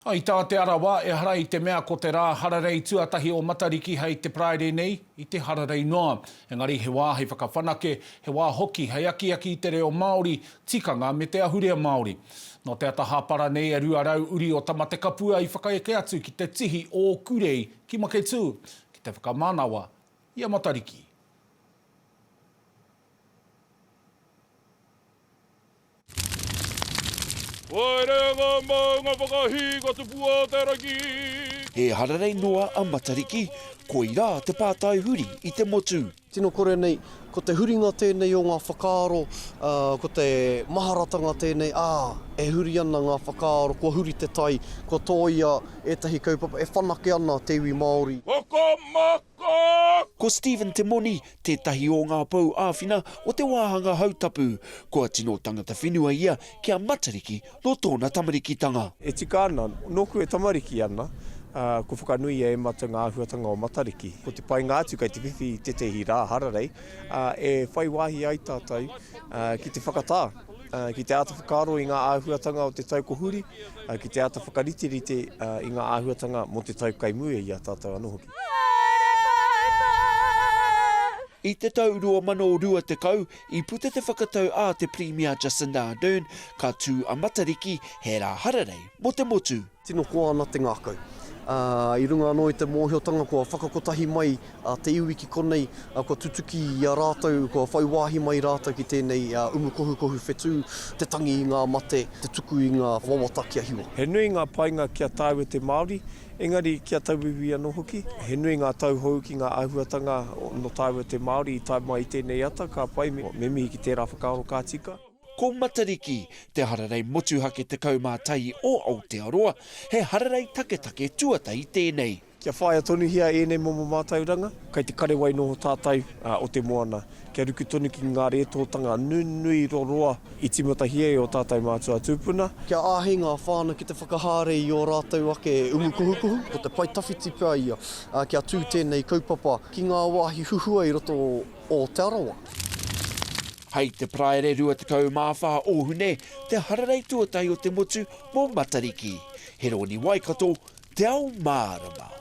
I tā Te Arawa, ehara i te mea ko te rā hararei tuatahi o Matariki hei te Paraire nei, i te hararei noa. Engari he wā hei whakawhanake, he wā hoki hei akiaki i te reo Māori, tikanga me te ahurea Māori. Nō te ata hāpara nei e 200 uri o Tamatekapua i whakaeke atu ki te tihi o Ōkurei ki Maketū ki te whakamanawa i a Matariki. Haere ngā maunga whakahī ka tupu a te rangi. He hararei noa a Matariki, koirā te pātai huri i te motu. Tino kore nei, ko te huringa tēnei o ngā whakaaro, ko te maharatanga tēnei, ā, e huri ana ngā whakaaro, kua huri te tai, kua tōia ētahi kaupapa, e whanake ana te iwi Māori. Whakamā Ko Stephen Te Moni tētahi o ngā pou āwhina o te wāhanga hautapu, kua tino tangata whenua ia ki a Matariki nō tōna tamarikitanga. E tika ana, nōku e tamariki ana, ā, kua whakanuia e Mata ngā āhuatanga o Matariki. Ko te painga atu kei te whiwhi i tētahi rā hararei, ā, e whai wāhi ai tātou ki te whakatā, ki te āta whakaaro i ngā āhuatanga o te tau kua huri, ki te āta whakariterite i ngā āhuatanga mō te tau kai mua i a tātou anō hoki. Haere koutou! I te tau 2020, i puta te whakatau a te Pirimia Jacinda Ardern, ka tū a Matariki he rā hararei mō te motu. Tino koa ana te ngākau. Ā, i runga anō i te mōhiotanga kua whakakotahi mai te iwi ki konei, kua tutuki i a rātou, kua whai wāhi mai rātou ki tēnei umu kohukohu whetū, te tangi i ngā mate, te tuku i ngā wawata kia hiwa. He nui ngā painga ki a tāua te Māori, Engari, ki a tauiwi anō hoki, he nui ngā tauhou ki ngā āhuatanga nō tāua te Māori i tae mai i tēnei ata, ka pai me mihi ki tērā whakaaro ka tika. Ko Matariki, te hararei motuhake 11 o Aotearoa, he hararei taketake tuatahi tēnei. Kia whāia tonuhia ēnei momo mātauranga, kei te kare wai noho tātou o te moana. kia ruku tonu ki ngā rētōtanga nunui roroa i tīmatahi ai ō tātou mātua tūpuna. Kia āhei ngā whānau ki te whakahaere i ō rātou ake umukuhukuhu. Ko te pae tawhiti pea ia kia tū tēnei kaupapa ki ngā wāhi huhua i roto o Te Arawa. Hei te Paraire 24 o Hune te hararei tuatahi o te motu mō Matariki. He rōni Waikato, Te Ao Mārama.